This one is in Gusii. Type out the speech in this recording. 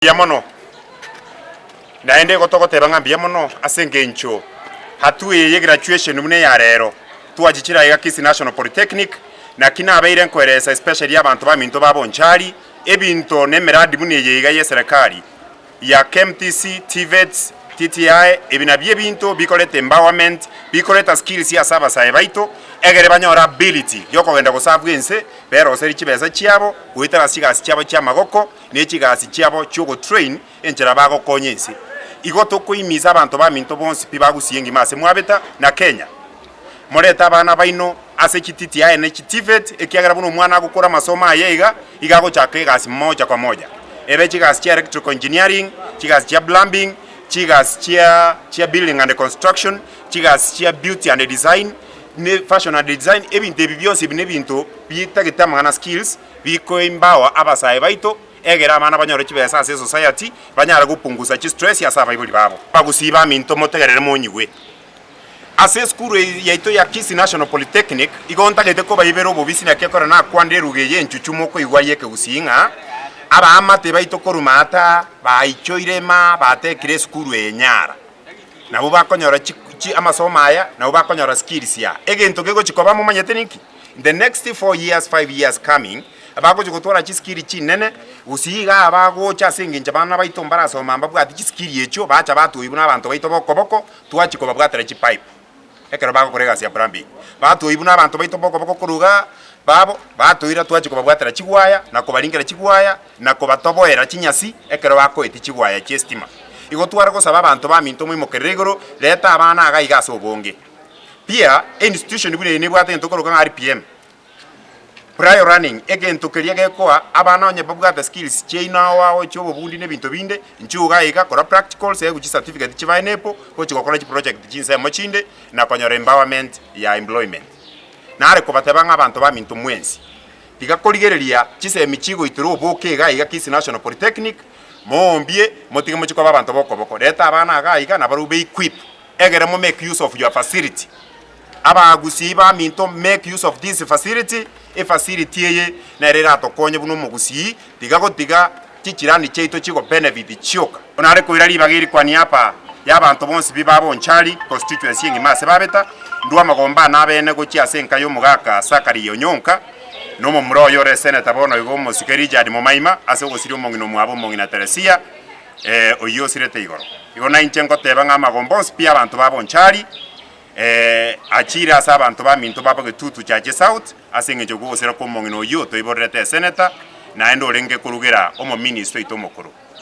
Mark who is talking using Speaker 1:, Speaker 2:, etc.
Speaker 1: mbuya mono, naende igo togoteba ng'a mbuya mono ase engencho hatu eye ye graduation buna eya rero twachichire aiga Kisii National Polytechnic, naki nabeire nkoeresa especially abanto baminto ba Bonchari, ebinto na emeradi buna eye iga ye serekari ya KMTC, TVETs, TTI, ebi nabio ebinto bikoreta empowerment, bikoreta skills ase abasae baito, egere banyore ability yokogenda goserve ense, beroseri chibesa chiabo, goetera chigasi chiabo chi'amagoko, ne chigasi chiabo chi'ogotrain enchera bagokonya ense. Igo tokoimisa abanto baminto bonsi pi bagusie engima ase mwabeta na Kenya. Morete abana baino ase chititi aye ne chitivet ekiagera buna omwana agokora amasomo aye iga iga agochaka egasi moja kwa moja ebe chigasi chia electrical engineering, chigasi chia plumbing, chigasi chia chia building and construction, chigasi chia beauty and design, ne fashion and design ebinto ebi bionsi ebi ne ebinto bitagete amang'ana skills. bikoimbao abasae baito, egera abana banyore chibesa ase esociety, banyare gopungusa chistress ase abaibori babo. Abagusii baminto motegerere monyigwe. Ase esukuru eye yaito ya Kisii National Polytechnic, igo ntagete kobaibera obobisi naki ekero nakwanda eruga eye enchuchu mokoigwa eye ekegusii ng'a, Abaamate baito korwa Maata baichoire ma batekire esukuru eye nyara. Nabo bakonyora chi chi amasomo aya, nabo bakonyora skills ya. Egento kegochi koba momanyete ninki? In the next four years, five years coming, bagochia gotwara chisikiri chinene, gose iga abagocha ase engencho abana baito mbarasoma mbabwate chisikiri echio, bacha batoigwa buna abanto baito boko boko, twachia kobabwatera chipipe ekero bagokora egasi ya plumbing. Batoigwa buna abanto baito boko boko korwa iga, babo batoira twachia kobabwatera chigwaya, na kobaringera chigwaya, na kobatoboera chinyasi ekero bakoeti chigwaya chi'estima. Igo tware gosaba abanto baminto moimokerere igoro, reta abana iga iga ase obonge. Pia institution buna eye nebwate egento okoroka ng'a RPM, prior running, egento keria gekoa abana onye babwate skills chiaino ao agochia obobundi na ebinto binde, inchuo iga iga, kora practicals, ebu chicertificate chibae nepo, gochi gokora chiproject chinsemo chinde, na konyora empowerment ya employment. Nare kobateba ng'a abanto baminto mwensi, tiga korigereria chisemi chigoitera oboke iga iga Kisii National Polytechnic, moombie, motige mochie koba abanto b'okoboko. Reta abana iga iga nabarobwo be-equip Egere mo make use of your facility. Abaagusiei baminto make use of this facility, efacility eye nero eratokonye buna omogusii tiga gotiga chichirani chiaito chigo benefit chioka. Bono are koira ribaga erikwanire apa y'abanto bonsi bibe aba Onchari constituency engima ase babeta ndwo amagomba ane abene gochia ase enka y'omogaka Zachary Onyonka na omomura oyo ore eseneta bono igo omosike Richard Momaima ase ogosiria omong'ina omwabo omong'ina Teresia ee, oyio osirete igoro. Igo nainche ngoteeba ng'a amagomba onsi pi abanto ba Bonchari, ee, achiire ase abanto baminto ba Bogetutu Chache South ase engencho y'okogosera kw'omong'ina oyio otoiborerete eseneta, naende orenge korugera omominister oito omokoro.